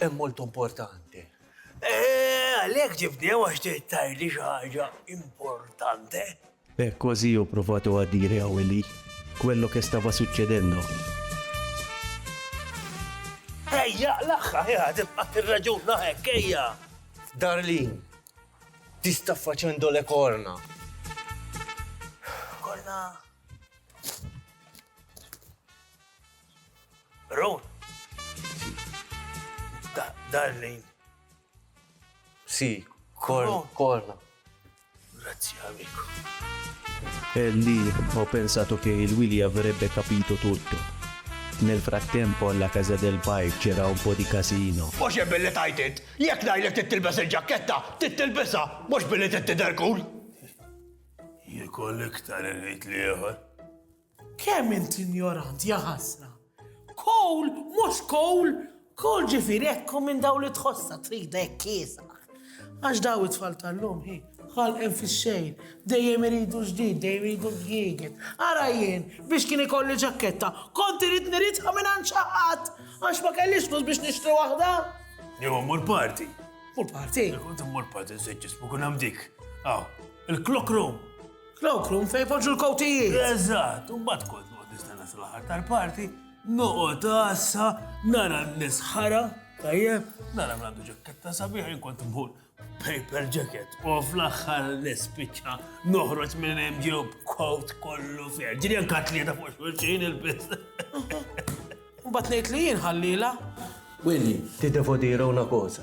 Hemm molto importanti. Eh, għalhekk ġibdew għax tgħidli xi ħaġa importanti. E così ho provato a dire a Willy quello che stava succedendo. Ejja, l-aħħar, ejja, tibqa' tirraġuna hekk, ejja. Darlin, ti sta facendo le corna. Corna. Ron. Darlin. Si, corna. Grazzi amico. E lì ho pensato che Willy avrebbe capito tutto. Nel frattempo alla casa del pai c'era un po' di casino. Mhux jien billi tgħid int! Jekk ngħidlek trid tilbes il-ġakketta, trid tilbisha, mhux billi trid tidher cool! Jekk hu l-iktar irid l-ieħor. Kemm int injorant, ja ħasra! Kowl, mhux kowl, kowl ġifieri hekk hu minn dawn li tħossha trida hekk kiesaħ. Għax daw it-tfal tal-lum hi, ħalqen fix-xejn, dejjem iridu ġdid, dejjem iridu l-ġdieget. Ara jien, biex kien ikolli ġakketta, kont irid niridha mingħand xi ħadd, għax ma kellix flus biex nixtri waħda. Jew immur party. Mur party. Kont immur party, nsejt jismu kun hemm dik. Aw, il-clock room. Cloakroom fejn poġġu l-kowtijiet. Eżatt, u mbagħad kont noqgħod nistenna sal-aħħar tal-parti, noqgħod għassa, nara n-nisħara, tajjeb, nara mlandu ġakketta sabiħ, inkont mħur paper jacket, u fl-axħar l-spiċċa noħroġ minn hemm ġew b'kowt kollu fer. Ġiri anka tlieta fuq xulxin il-biss. Mbagħad ngħid li jien ħallila. Willi, ti devo dire una cosa.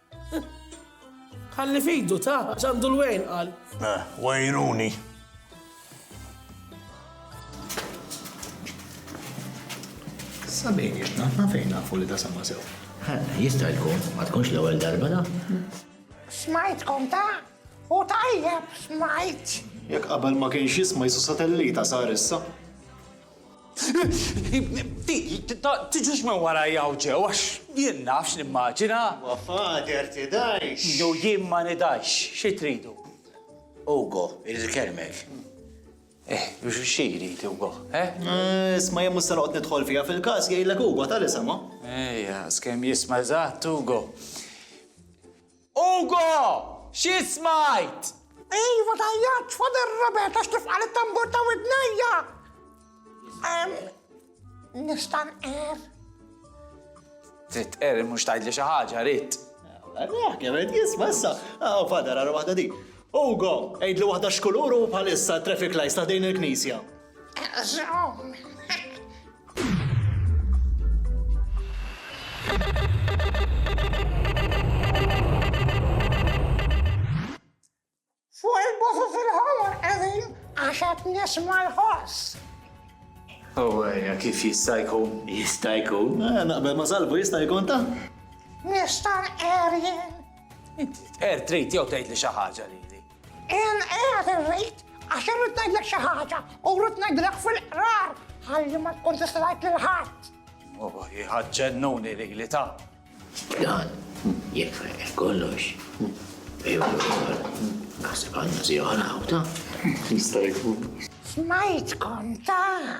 Ħalli f'idu ta' għax għandu l-wejn qal. Eh, wejruni. Sabin jitna, ma fejn nafu li ta' sama sew. Jista' jkun, ma tkunx l-ewwel darba da. Smajtkom ta' u tajjeb smajt. Jekk qabel ma kienx jisma' jisu satellita sar issa. Tiġux minn warajja hawn ġew għax jien naf x'nimmaġina. Huwa father tidhajx. Jew jien ma nidhajx, xi tridu? Ugo, irid ikellmek. Eh, xi jrid Ugo, eh? Isma' jien mhux se noqgħod nidħol fiha fil-każ, jgħidlek Ugo, tali semgħu. Ejja, skemm jisma' eżatt Ugo. Ugo! Xi smajt? Iva tajjatx, Father Robert, għax kif qal it-tambur ta' widnejja! Ehm, nista' nqer? Trid tqer mhux tgħidli xi ħaġa, rid. Rah kemm qed jisma' issa. Aw, Father, ara waħda din. Ugo, għidli waħda x'kulur hu bħalissa t-traffic lights ta' din il-knisja. Fuq il-bofu fil-ħomor qegħdin għax qed nisma' l-ħoss. Ewwejja kif jista' jkun? Jista' jkun. Eh, naqbel ma' salbu jista' jkun ta' Nista' nqerjen. Inti tqer trid jew tgħid li xi ħaġa lili. Qiegħed qiegħed irrid għax irrid ngħidlek xi ħaġa u rrid ngħidilek fil-qrar ħalli ma tkun tista' tgħid lil ħadd. Oh, jħad ġennuni li li ta'. Dan, jekk fejqet kollox, ejwa l-ukoll, naħseb għandna zjora għawta. Jista' jkun. Smajtkom ta'.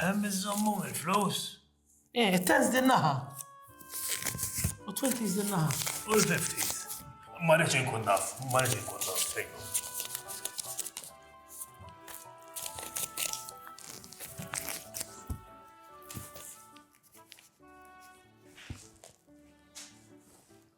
Hemm iżommhom il-flus? Eh, it-tens din naħa. U twenties din naħa. U l-fifties. Ma rridx inkun naf, ma rridx inkun naf fejn.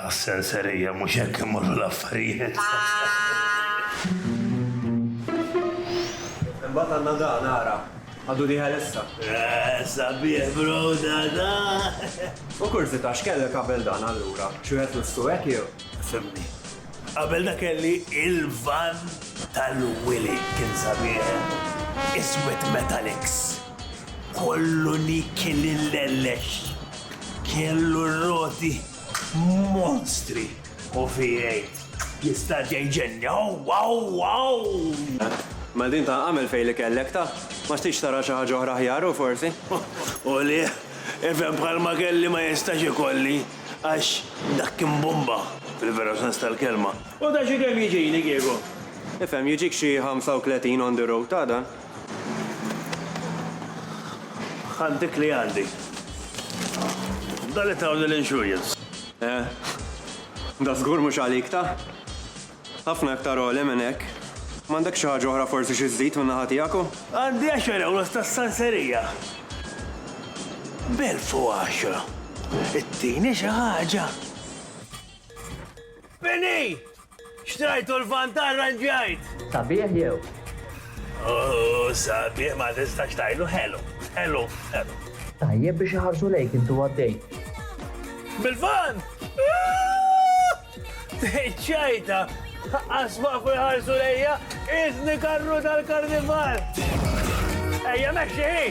Għas-senserija mhux hekk imorru l-affarijiet. Imbagħad għandna da nara. Għadu li ħalessa. Eh, sabiħ bro da da. U kurzita x'kellek qabel dan allura? Xi wieħed lustu hekk jew? Fimni. Qabel da kelli il-van tal-Willy kien sabiħ. Iswed Metallics. Kollu li kien illellex, kellu r-roti monstri u fi jgħid, Jista' jgħinni, aww, aww, aww! Mela din ta' agħmel fejn li kellek, ta'! Ma xtieqx tara xi ħaġa oħra aħjar hu forsi? U li, ifhem bħal ma kelli ma jistax ikolli, għax dak kien bumba, fil-veru sens tal-kelma. U da xi kemm jiġini kieku? Ifhem, jiġik xi 35 on the road, ta' dan. Ħadd dik li għandi. Dan li tawni l-insurance. Eh, da żgur mhux għalik ta? Ħafna iktar għoli minn hekk. M'għandekx xi ħaġa oħra forsi xi żżid min-naħa tiegħek u? Għandi għaxar ewros tas-sanserija. B'elf u għaxra. Ittini xi ħaġa? Penny! Xtrajtu l-van ta' rranġajt! Sabiħ jew? Oh, sabiħ ma tistax tajlu ħelu, ħelu, ħelu. Tajjeb biex iħarsu lejk intu għaddej. Bil-van! Ah! Ċajta! Asma kull ħarsu lejja, Iżni karru tal-karnival! Ejja meċi!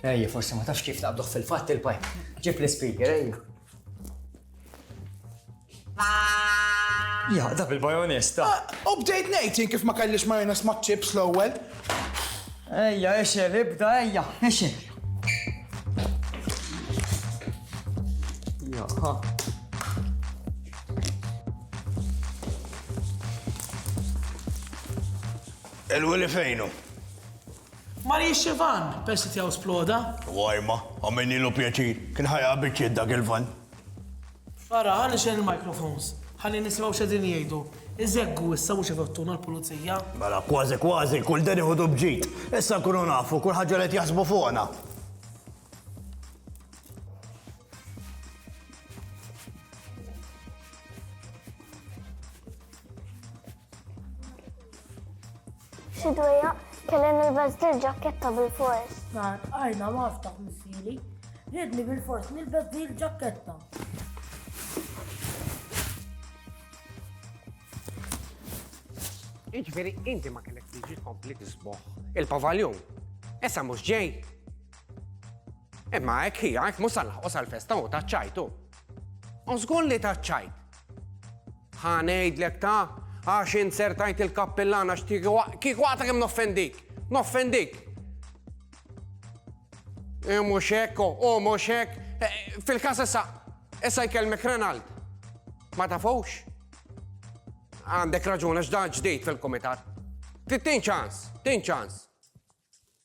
Ejja, forse ma tafx kif naqbduħ fil-fatt il-pajp. Ġib l-speaker, ejja. Jaqda' bil-bajonista! U bdejt ngħid jien kif ma kellix majoness maċ-chips l-ewwel. Ejja, ixgħel, ibda, ejja, ixgħel. Jaha. Il-wili fejnu? Mariex Ivan, persi tiegħu sploda. Wajma, għamilni l pjaċir, kien ħajja biċċiet dak il-van. Ara, ħa nixgħel il-microphones. Ħalli nisimgħu x'qegħdin jgħidu. Iżeggu issa mhux ifattuna l-pulizija. Mela, kważi kważi, kull dan iħudu bġid. Issa nkunu nafu kull ħaġa li qed jaħsbu fuqna. Xi dwejja kelli nilbes dil ġakketta bil-fors. Nar, għajna ma ftaħ missili. Ridni bil-fors nilbes dil ġakketta. Iġveri, inti ma kellek tiġi tkompli tisboħ. Il-pavaljon. Issa mhux ġej. Imma hekk hija, hekk mhux salħqos għall-festa u taċċajtu. U żgur li taċċajt. Ħa ngħidlek ta' għax int ser tajt il-kappillan għax kieku għata kemm noffendik. Noffendik. E mhux hekk, u mhux hekk. E, fil-każ issa issa jkellmek Renald. Ma tafux? Għandek raġun għax dan ġdid fil-kumitat. Tin ċans, tin ċans.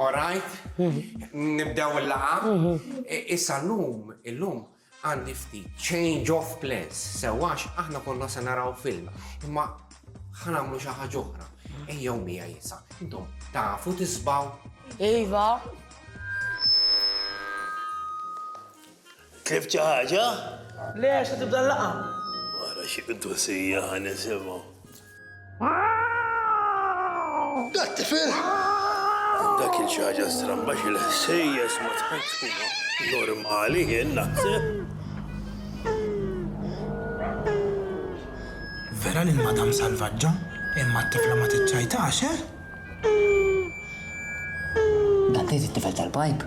All right, nibdew il-laqgħa. Issa llum, illum għandi ftit change of plans, sewax aħna konna se naraw film, imma ħanamlu xi ħaġa oħra. Ejjew mija jisa, intom tafu tisbaw. Iva. Tlift xi ħaġa? Le, għax se tibda l-laqgħa. Wara xi qdusija ħa nisimgħu. Dat tifel! Dak il xi ħaġa stramba xi l-ħsejjes ma tħassuna normali jien naħseb. Vera li l-madam salvaġġa, imma t-tifla ma tiċċajtax, eh? Dan tgħid it-tifel tal-pajp?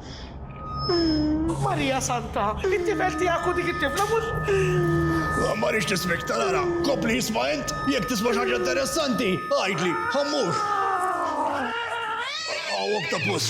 Marija Santa, it-tifel tiegħek u dik it-tifla mhux. Ma rridx nismek tarara, kompli isma' int, jekk tisma' xi ħaġa interessanti, għidli, ħa mmur. Hawn oktopus.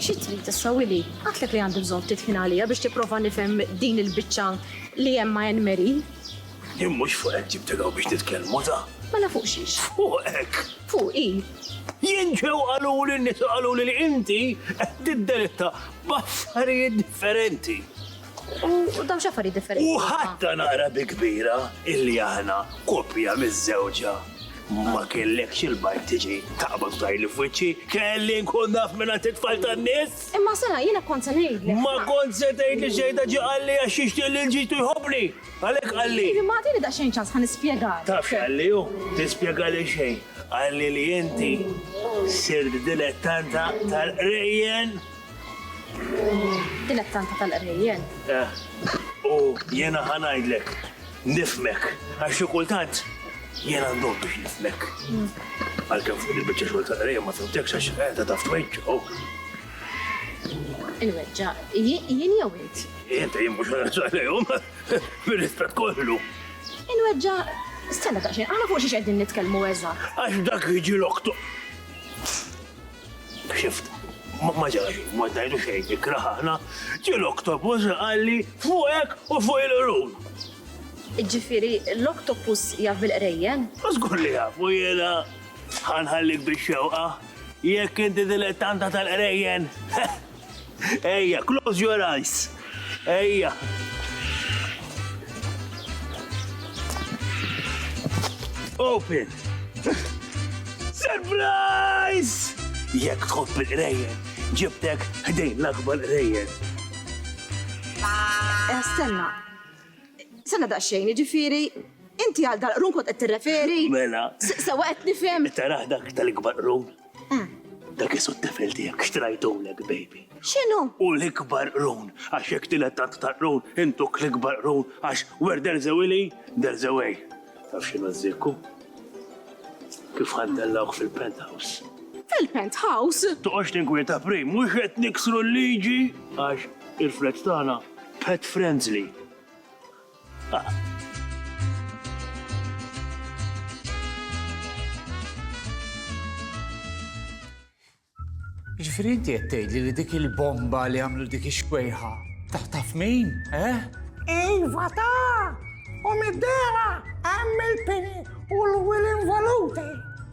Xi trid issa Willy? Għidtlek li għandi bżonn ftit ħin għaliha biex tipprova nifhem din il-biċċa li hemm ma' Ann Marie. Jien mhux fuq hekk ġibtek hawn biex nitkellmu ta'. Mela fuq xiex? Fuq hekk! Fuq hi! Jien ġew qaluli n-nisa qaluli li inti qed tiddelitta b'affarijiet differenti. U dawn x'affarijiet differenti. U ħatta naqra bi kbira illi aħna koppja miżżewġa. Ma kellekx il-bajk tiġi taqbad tajli f'wiċċi, kelli nkun naf minn għand it-tfal tan-nies. Imma sena jiena kont se ngħidlek. Ma kont se tgħidli xejn ta' ġie qalli għax jixtieq li l-ġidtu jħobbni. Għalhekk qalli. Iva, ma tini daqsxejn ċans ħa nispjegalek. Taf x'qalli hu? Tispjegali xejn. Qalli li inti sirt dilettanta tal-qrejjen. Dilek tanta tal-qrejjen. Eh, u jena ħanajdlek, nifmek, għax xi kultant jena ndom biex nifmek. Mm. Għalkemm fuq il-biċċa xogħol tal-qrejjen ma fimtekx għax qiegħda taf tweġġa il-weġġa, jien jew int? Int jien mhux għalihom, bir-rispett kollu. Il-weġġa, stella ta' xejn, għana fuq xiex qegħdin nitkellmu eżatt. Għax dak jiġi l-oktu. Xift, ma ġari, ma tajlu xejn, ikraħ aħna, ġi l-oktopus għalli fuqek u fuq il-qrun. Ġifiri, l-oktopus jaf bil-qrejjen? Zgur li jaf, u jena ħanħallik biex xewqa, jekk inti dilettanta tal-qrejjen. Ejja, close your eyes. Ejja. Open. Surprise! Jekk tħobb il-qrejjen, ġibtek ħdejn l-akbar qrejjen. Eh, stenna. Stenna daqsxejn, ġifiri, inti għal dal-qrun kont qed tirreferi? Mela. Sewa qed nifhem. Taraħ dak tal-ikbar qrun. Dak isu t-tifel tiegħek xtrajtulek, baby. X'inhu? U l-ikbar qrun, għax jekk tilet tant ta' qrun, intuk l-ikbar qrun, għax where there's a willy, there's a way. Taf x'inhu ż-żikku? Kif ħandellawk fil-penthouse. Fil-penthouse? Toqgħodx tinkwieta prim, mhux qed niksru l-liġi, għax il-fleġġ tagħna pet friendly. Ġifri inti qed tgħidli li dik il-bomba li għamlu dik ix-xwejħa taf taf min, eh? Iva ta! U mid-dera hemm il-pini u l-wil involuti.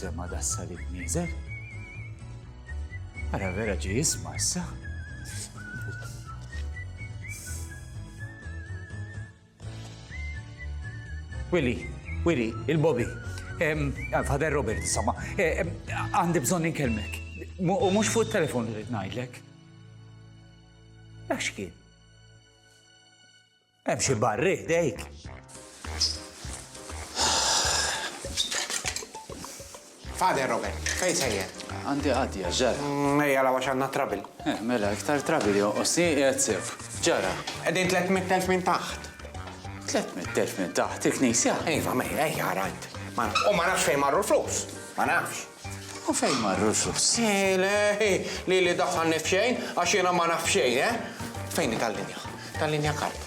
sema da salib nizel. Ara vera ġi jisma issa. Willy, Willy, il-Bobby. Fader Robert, insomma, għandi bżon ninkelmek. U mux fuq il-telefon li rrit najdlek. Għax kien? Hemm xi barri ħdejk. Fader Robert, fej sejjer? Għandi għadja, ġara. Mm, ejja la għax għandna trabil. Eh, mela, iktar trabil jonqosni qiegħed sef. Ġara. Qegħdin 300,000 minn taħt. 300,000 minn taħt il-knisja? Iva, mejja, ejja rajt. U ma nafx fejn marru l-flus. Ma nafx. U fejn marru sus? Ele, lili daħħalni f'xejn, għax jiena ma naf xejn, eh? Fejn hi tal-linja? Tal-linja karb.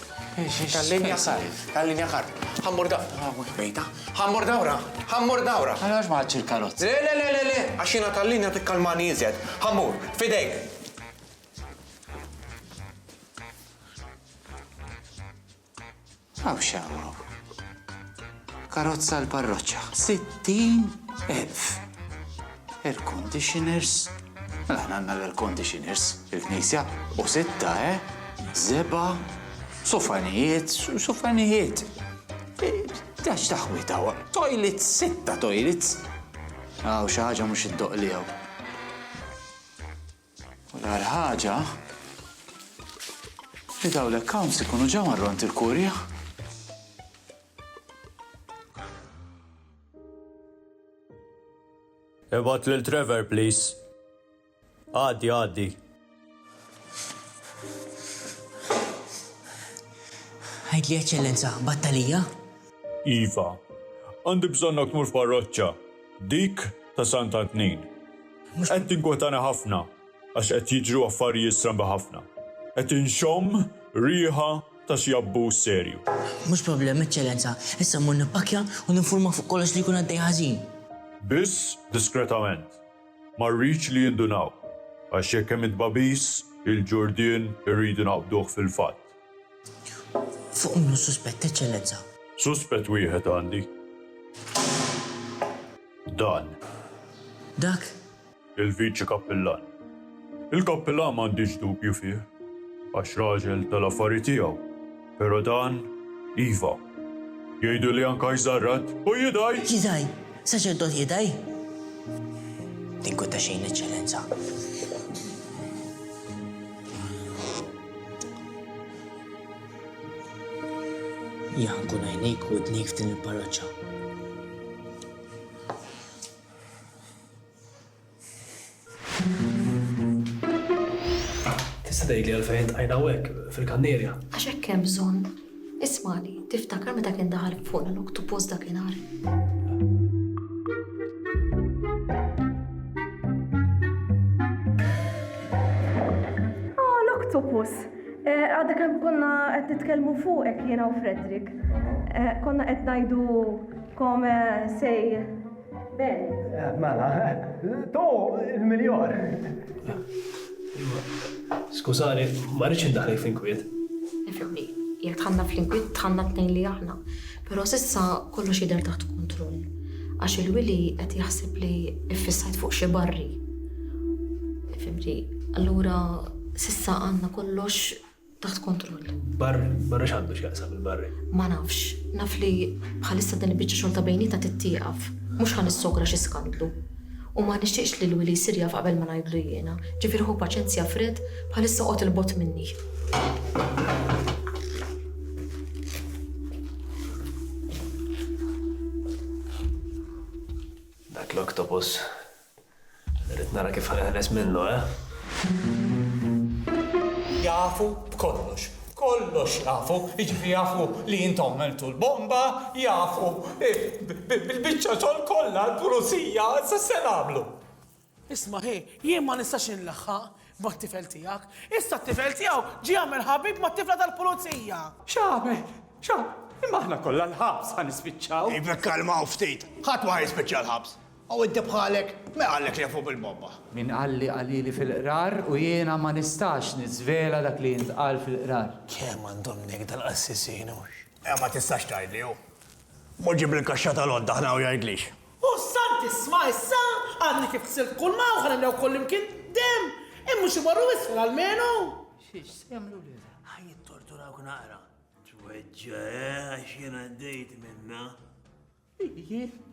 Tal-linja karb. Tal-linja karb. Ħa mmur da. Mhux bejta. Ħa mmur dawra. Ħa mmur dawra. Għala għax ma ħadx il-karozza? Le, le, le, le, le, għax jiena tal-linja tikkalmani iżjed. Ħa mmur. F'idejk. Hawn x'hawn hawn. Karozza għal parroċċa, 60 elf. Air conditioners. Mela aħna għandna l-air conditioners fil-knisja u sitta, eh? Zeba, sofanijiet, sofanijiet. Dax taħwita, toilets, sitta toilets. Għaw xaħġa mux id-doq li għaw. U l-agħar ħaġa li dawn l-accounts ikunu ġew għal ront il-kurja. Ibgħat lil Trevor, please. Għaddi, għaddi. Għidli eċċellenza, battalija? Iva, għandi bżonnok mur f'parroċċa, dik ta' Sant'Antnin. Mhux qed tinkwetani ħafna għax qed jiġru affarijiet strambi ħafna. Qed inxomm riħa ta' xi abbuż serju. Mhux problem, Eċċellenza. Issa mmur nippakkja u ninfurma fuq kollox li jkun għaddej ħażin. Biss diskretament. Ma rridx li jindunaw. Għax jekk hemm it-tbagħbis, il-ġurdien irridu naqbduh fil-fatt. Fuq min hu s-suspett, Eċċellenza? Suspett wieħed għandi. Dan. Dak? Il-Viċi Kappillan. Il-Kappillan m'għandix dubju fih, għax raġel tal-affari tiegħu, però dan, iva. Jgħidu li anka jżarrad u jidgħi! Jidgħi? Saċerdot jidgħi? Tinkweta xejn, Eċċellenza. Jan kun għajnejk u d-nejk f'din il-parroċċa. Tista' tgħidli għalfejn tqajna hekk fil-kannierja? Għax hekk hemm bżonn. Ismagħli, tiftakar meta kien daħal fuqna l-oktupus dakinhar? Octopus. Eh, għadda kem konna qed nitkellmu fuqek jiena u Fredrik. Eh, konna qed ngħidu kome sej Ben. Mela, to il-miljon. Skużani, ma rridx indaħli fl-inkwiet. Nifhmni, jekk tħanna fl-inkwiet tħanna tnejn li aħna. Però sissa kollox jidher taħt kontroll. Għax il-wili qed jaħseb li iffissajt fuq xi barri. Fimti, allura sissa għandna kollox taħt kontroll. Barri, barri x'għandu x'jaqsam il-barri? Ma nafx, naf li bħalissa din il-biċċa xogħol ta' bejnieta tittieqaf. Mhux ħan issogra xi skandlu. U ma nixtieqx li l-wili jsir jaf qabel ma ngħidlu jiena. Ġifier ħu paċenzja fred bħalissa qgħod il-bot minni. Dak l-oktopus Irrid nara kif ħaneħles minnu, eh? Jafu b'kollox. Kollox jafu, jiġifieri jafu li intom għamiltu l-bomba, jafu bil-biċċa xogħol kollha l-Pulizija sa se nagħmlu? Isma' hi, jien ma nistax inlaħħaq mat-tifel tiegħek. Issa t-tifel tiegħu ġie għamel ħabib mat-tifla tal-Pulizija! X'għamel? X'għamel? Imma aħna kollha l-ħabs ħa nispiċċaw! Iva kkalmaw ftit, ħadd ma ħa jispiċċa l-ħabs. Hawn inti bħalek, min qallek li jafhom il-Bobba? Min qal li qalili fil-Qrar u jiena ma nistax niżvela dak li jintqal fil-Qrar? Kemm għandhom negda l-qassisin hux? Eh, ma tistax tgħidli hu. Mur ġib il-kaxxa tal-għodda aħna u jgħidlix. O Sant, isma' issa, għadni kif ħsilt kulma u ħa nimlew kullimkien demm, hemm mhux imorru isfel almenu! Xi, x'se jagħmlu lilha? Ħa jittorturawk naqra. Tweġġa', eh, għax jien għaddejt minnha.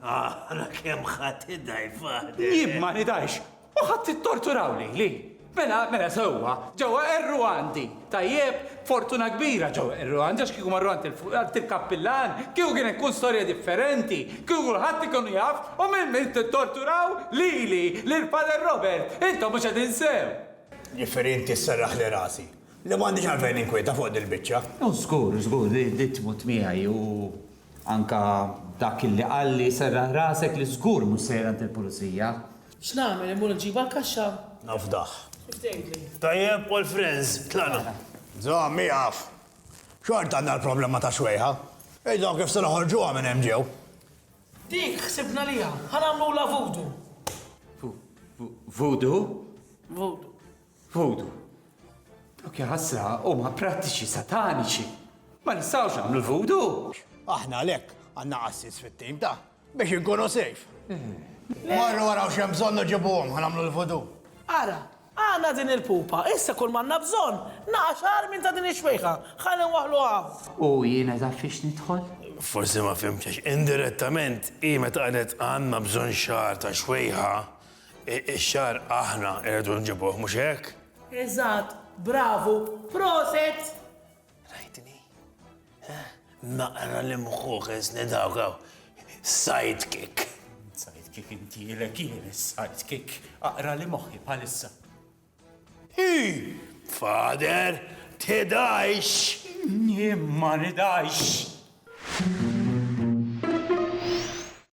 Ara kemm ħadd idaj faħdet. Jien ma nidajx, u ħadd ittorturaw lili. Mela, mela sewwa, ġewwa qerru għandi. Tajjeb, fortuna kbira ġewwa qerru għandi għax kieku marru għand il-kappillan, kieku kien ikun storja differenti, kieku kulħadd ikun jaf u minn min tittorturaw lili, lil Pader Robert, intom mhux qegħdin sew. Jifieri inti sserraħli rasi, li m'għandix għalfejn ninkwieta fuq dil-biċċa. Hu żgur, żgur li tmut miegħi u Anke dak li qalli serraħ rasek li żgur mhux sejjer għand il-Pulizija. X'nagħmel, immur inġibu għall-kaxxa? Nafdah. Kif tgħidli? Tajjeb, all friends, tlaqna. Żomm, ieqaf. Xorta għandna l-problema tax-xwejħa. Idhom kif se noħorġuha minn hemm ġew. Dik ħsibna liha. Ħa nagħmlulha vudu. Vu, vu, vudu? Vudu. Vodu. Dawk ja ħasra huma prattiċi sataniċi. Ma nistgħux nagħmlu l-vodu. Aħna għalhekk għandna assis fit-tim ta' biex inkunu sejf. Marru għaraw xem bżonn uġibuhom għamlu l-vodu. Ara, għana din il-pupa, issa kull manna bżon, naqax għar minn ta' din ix-xwejħa, ħalli nwaħlu għaw. U jiena ta' fiex nidħol? Forsi ma fimċax, indirettament, hi meta qalet għanna bżon xar ta' xwejħa, Ix-xagħar aħna irridu nġibuh, mhux hekk? Eżatt, bravu, proset! Rajtni? Naqra li mħuħ isni dawk hawn. Sidekick. Sidekick inti ilek jien is-sidekick. Aqra li moħħi bħalissa. Hi! Fader, tidajx! Jien ma nidajx!